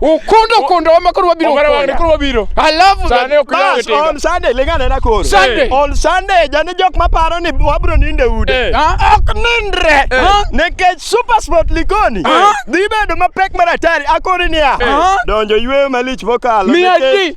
Ukundo kundo wama koro wabiro Omera wang'ni koro wabiro. I love that. Sane ok iyawo Bas, tinga. on Sunday lingane na koro. Sunday. On Sunday jani jok maparo ni wabro ninde ude. Eh. Ah, Ok nindre. Ah. Nikech Super Sport Likoni Ah. dhi bedo mapek mar atari akori niya. Ah. Donjo yweyo malich mokalo. Miya nikech- ji.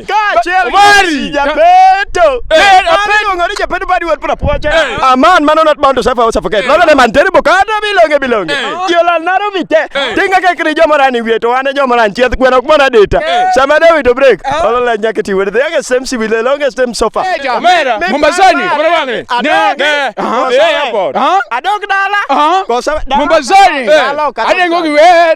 Kaachiel gi Omari! Messi Japeto. Eh, Mano iluongo ni Japeto badi wad pura poche. Eh. A man mano not bound to suffer or suffocate. Lolo ne man terrible kata bilonge bilonge. Eh. Jolal naro vite. Eh. Tinga ke kri jomara ni wieto wane jomara nchieth gweno ok mona data. Eh. Sama de wito break. Lolo la nyake ti wede. Yake same si wile longe same sofa. Omera, Mi Mombasani, papa. unaona wale? Adog. Ne, ne, aha, Kosa eh, wede. airport. Aha. Adog dala. Aha. Kosa dala. Mombasani. Dala okata. Adengo kiwer.